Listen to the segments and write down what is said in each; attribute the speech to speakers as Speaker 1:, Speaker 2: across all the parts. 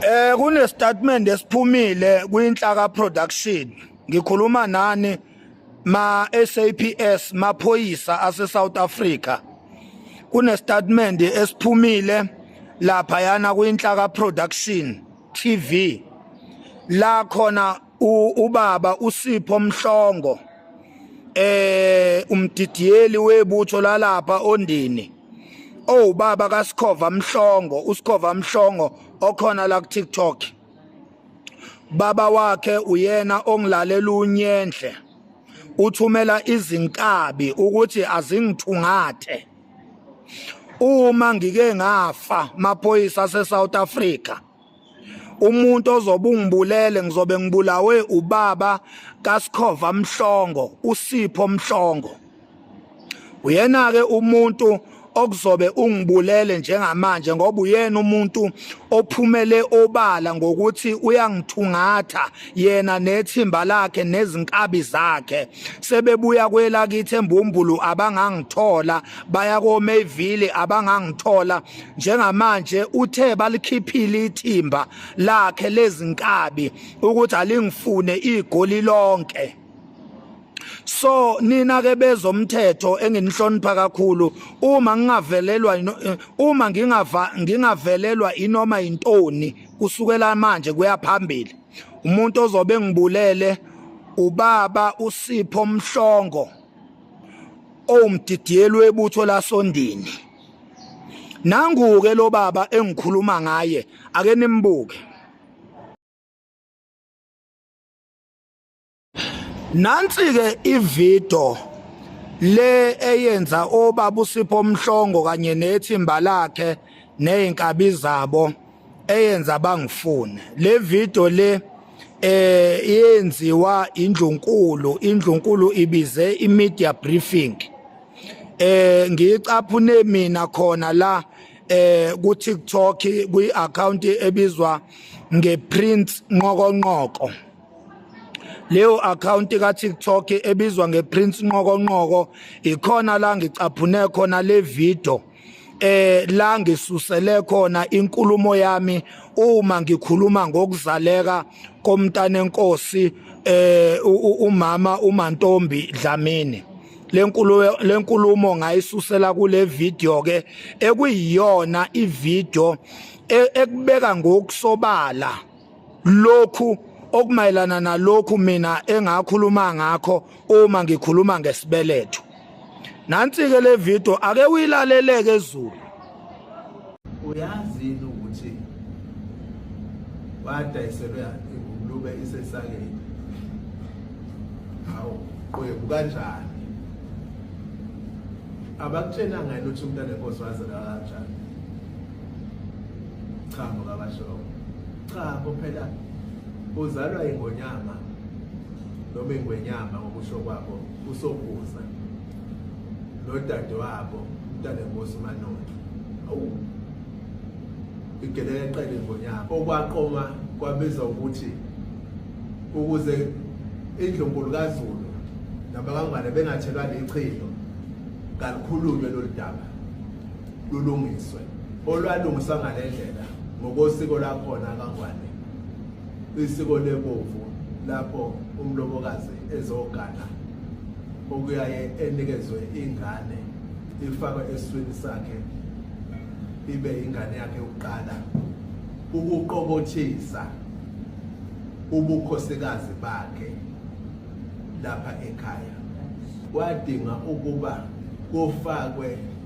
Speaker 1: Eh kunestatement esiphumile kwinhlaka production. Ngikhuluma nani ma SAPS maphoyisa ase South Africa. Kunestatement esiphumile lapha yana kwinhlaka production TV. La khona ubaba uSipho Mhlongo eh umdidiyeli webutho lalapha ondini owubaba kaSikhova Mhlongo uSikhova Mhlongo okhona la ku TikTok baba wakhe uyena ongilalela unyenhle uthumela izinkabi ukuthi azingithungathe uma ngike ngafa maphoyisa aseSouth Africa umuntu ozobe ungibulele ngizobe ngibulawe ubaba kaSikhova Mhlongo uSipho Mhlongo uyena ke umuntu okuzobe ungibulele njengamanje ngoba uyena umuntu ophumele obala ngokuthi uyangithungatha yena nethimba lakhe nezinkabi zakhe sebebuya kwelakithi embumbulu abangangithola baya koMayville abangangithola njengamanje uthe balikhiphile ithimba lakhe lezinkabi ukuthi alingifune igoli lonke so nina ke bezomthetho enginihlonipha kakhulu uma ngingavelelwa eh, uma ngingava ngingavelelwa inoma intoni kusukela manje kuyaphambili umuntu ozobe ngibulele ubaba usipho mhlongo owumdidiyelwe ebutho lasondini nanguke lo baba engikhuluma ngaye ake nimbuke nansi ke ivideo le eyenza obaba usipho omhlongo kanye nethimba lakhe nezinkabi zabo eyenza bangifune le video le eh yenziwa indlunkulu indlunkulu ibize imedia briefing eh ngicaphune mina khona la eh ku TikTok kwi account ebizwa nge Prince Nqokonqoko leyo account ka TikTok ebizwa nge Prince Nqokonqoko ikhona la ngicaphune khona le video eh la ngisusele khona inkulumo yami uma ngikhuluma ngokuzaleka komntana enkosi eh umama uMantombi Dlamini lenkulumo lenkulumo ngayisusela kule video ke ekuyiyona ivideo e, ekubeka ngokusobala lokhu okumayelana nalokhu mina engakhuluma ngakho uma ngikhuluma ngesibeletho nansi-ke le video ake uyilaleleke ezulu uyazi
Speaker 2: yini ukuthi wadayiselwe ingulube isesakeni hawu qwebu kanjani abakutshena ngani ukuthi umntana enkosi wazela kanjani cha mukabashoko cha kuphela uzalwa ingonyama noma ingwenyama ngokusho kwabo usokuza nodade wabo umntana enkosi umanotho awu igelele qele ngonyama okwaqoma kwabiza ukuthi ukuze indlunkulu kazulu nabakangwane bengathelwa lichilo kalikhulunywe lolu daba lulungiswe olwalungiswa ngale ndlela ngokosiko lakhona kaNgwane isiko lebovu lapho umlobokazi ezogana okuyaye enikezwe ingane ifakwe eswini sakhe ibe ingane yakhe yokuqala ukuqokothisa ubukhosikazi bakhe lapha ekhaya kwadinga ukuba kufakwe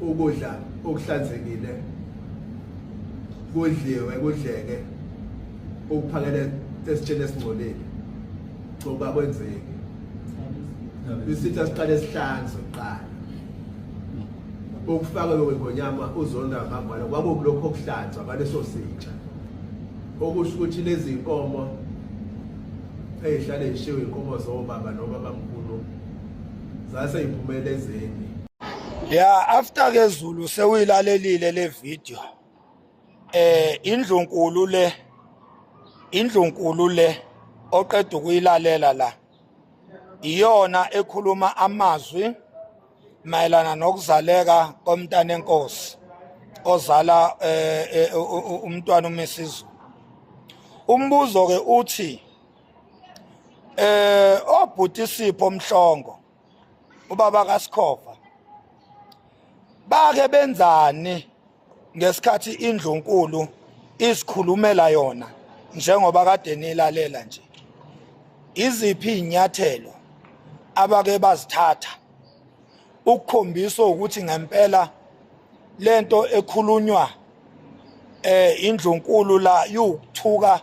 Speaker 2: ukudla okuhlanzekile kudliwe kudleke ukuphakela esitsheni esingcolile ngoba kwenzeki isitha siqale sihlanzwe kuqala ukufaka lokho ngonyama uzonda ngambala kwakukulokho okuhlanzwa baleso sitsha okusho ukuthi lezi nkomo ezihlale zishiwe inkomo zobaba nobaba mkhulu zaseyiphumelela ezeni ya
Speaker 1: after ke Zulu sewuyilalelile le video eh indlunkulu le indlunkulu le oqeda ukuyilalela la iyona ekhuluma amazwi mayelana nokuzaleka komntana enkosi ozala eh, eh, umntwana uMisizu umbuzo ke uthi eh obhuti Sipho Mhlongo ubaba kaSikhova bake benzani ngesikhathi indlunkulu isikhulumela yona njengoba kade nilalela nje iziphi inyathelo abake bazithatha ukukhombisa ukuthi ngempela lento ekhulunywa eh indlunkulu la yukuthuka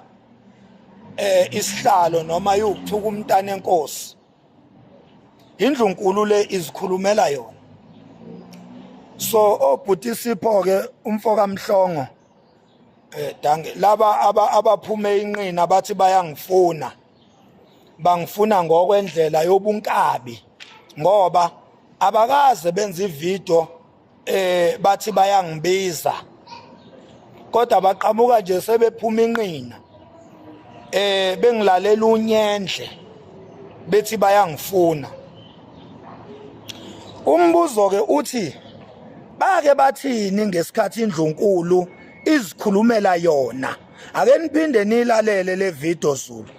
Speaker 1: eh isihlalo noma yukuthuka umntana enkosi indlunkulu le izikhulumela yona so obhuti oh, sipho ke umfo kamhlongo eh danke laba abaphume inqina bathi bayangifuna bangifuna ngokwendlela yobunkabi ngoba abakaze benze ivideo eh bathi bayangibiza kodwa baqhamuka nje sebephuma inqina eh bengilalela unyendle bethi bayangifuna umbuzo ke uthi bake bathini ngesikhathi indlunkulu izikhulumela yona ake niphinde nilalele le video Zulu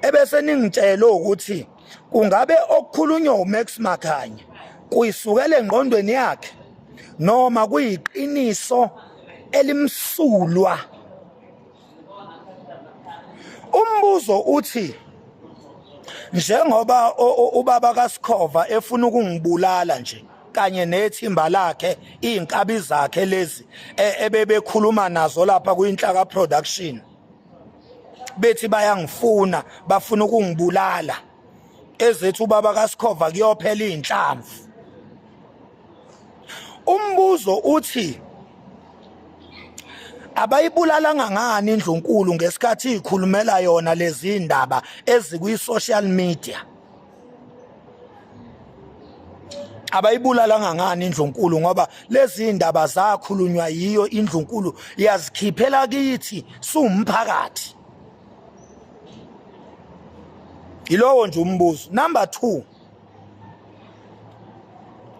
Speaker 1: ebese ningitshela ukuthi kungabe okukhulunywa uMax Makhanya kuyisukela engqondweni yakhe noma kuyiqiniso elimsulwa umbuzo uthi njengoba ubaba kaSikhova efuna ukungibulala nje kanye nethimba lakhe izinkabi zakhe lezi e, ebebekhuluma nazo lapha kuyinhlaka production bethi bayangifuna bafuna ukungibulala ezethu ubaba kaSikhova kuyophela izinhlamvu umbuzo uthi abayibulalanga ngani indlunkulu ngesikhathi ikhulumela yona lezi ndaba ezikwi social media abayibulalanga ngani indlunkulu ngoba lezi indaba zakhulunywa yiyo indlunkulu yazikhiphela kithi siwumphakathi yilowo nje umbuzo number 2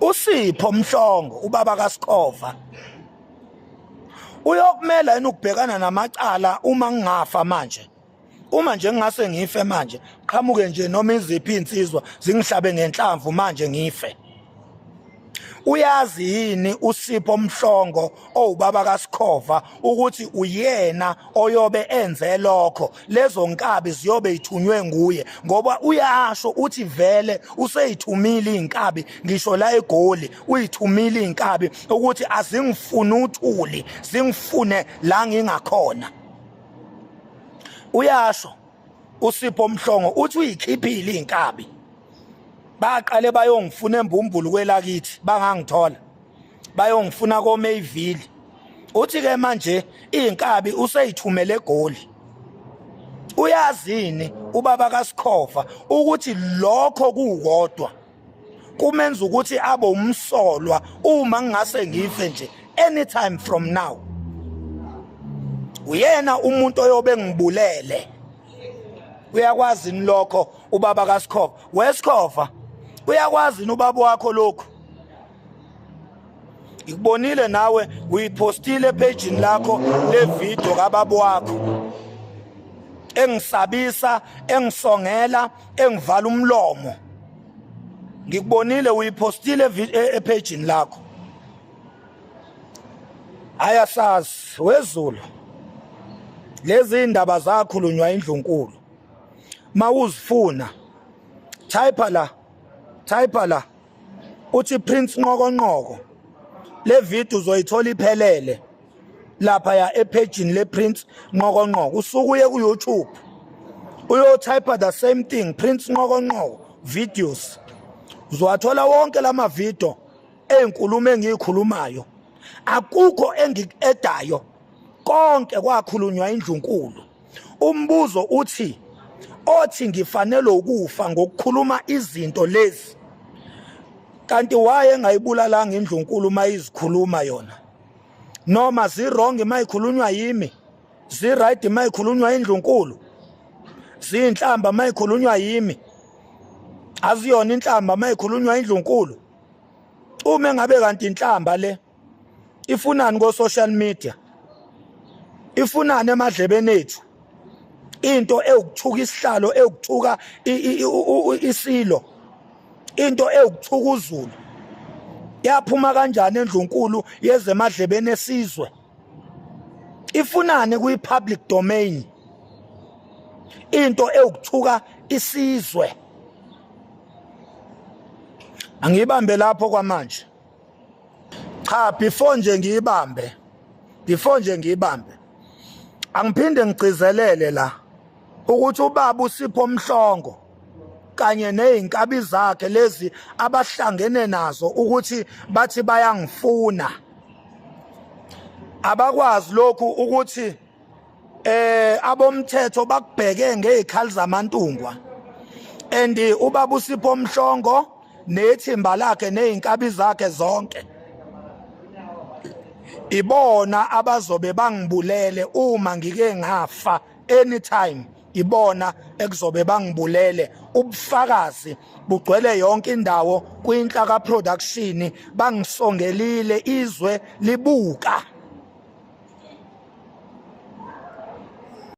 Speaker 1: usipho mhlongo ubaba kaSikhova uyokumela yini ukubhekana namacala uma ngingafa manje uma nje ngingase ngife manje qhamuke nje noma iziphi insizwa zingihlabe ngenhlamvu manje ngife uyazi yini usipho mhlongo owubaba kasikhova ukuthi uyena oyobe enze lokho lezo nkabi ziyobe ithunywe nguye ngoba uyasho uthi vele useyithumile inkabi ngisho la egoli uyithumile inkabi ukuthi azingifuni uthuli zingifune la ngingakhona uyasho usipho mhlongo uthi uyikhiphile inkabi baqale bayongifuna embumbulu kwelakithi bangangithola bayongifuna koMayville uthi ke manje inkabi useyithumele egoli uyazini ubaba kaSikhova ukuthi lokho kukodwa kumenza ukuthi abe umsolwa uma ngingase ngife nje anytime from now uyena umuntu oyobe ngibulele uyakwazi ni lokho ubaba kaSikhova weSikhova uyakwazi ni ubaba wakho lokho ngikubonile nawe uyiphostile ephejini lakho levidiyo kababa wakho engisabisa engisongela engivala umlomo ngikubonile uyiphostile e-, ephejini lakho ayasazi wezulu lezi indaba zakhulunywa indlunkulu mawuzifuna type la type la uthi Prince Nqokonqoko le video uzoyithola iphelele lapha ya ephejini le Prince Nqokonqoko usuku uye ku YouTube uyotype the same thing Prince Nqokonqoko videos uzowathola wonke lama video ezinkulumo engiyikhulumayo akukho engikuedayo konke kwakhulunywa indlunkulu umbuzo uthi othi ngifanele ukufa ngokukhuluma izinto lezi kanti waye engayibulalanga indlunkulu uma izikhuluma yona noma zirong uma ikhulunywa yimi ziright uma ikhulunywa indlunkulu ziyinhlamba uma ikhulunywa yimi aziyona inhlamba uma ikhulunywa indlunkulu uma engabe kanti inhlamba le ifunani ko social media ifunani emadlebeni ethu into ewukuthuka isihlalo ewukuthuka isilo into ewukuthuka uzulu yaphuma kanjani endlunkulu yezemadlebeni esizwe ifunani kwi public domain into ewukuthuka isizwe angiyibambe lapho kwamanje cha before nje ngiyibambe before nje ngiyibambe angiphinde ngigcizelele la ukuthi ubaba usipho omhlongo kanye nezinkabi zakhe lezi abahlangene nazo ukuthi bathi bayangifuna abakwazi lokhu ukuthi eh abomthetho bakubheke ngezikhali zamantungwa and ubaba usipho mhlongo nethimba lakhe nezinkabi zakhe zonke ibona abazobe bangibulele uma ngike ngafa anytime ibona ekuzobe bangibulele ubufakazi bugcwele yonke indawo kwinhla ka production bangisongelile izwe libuka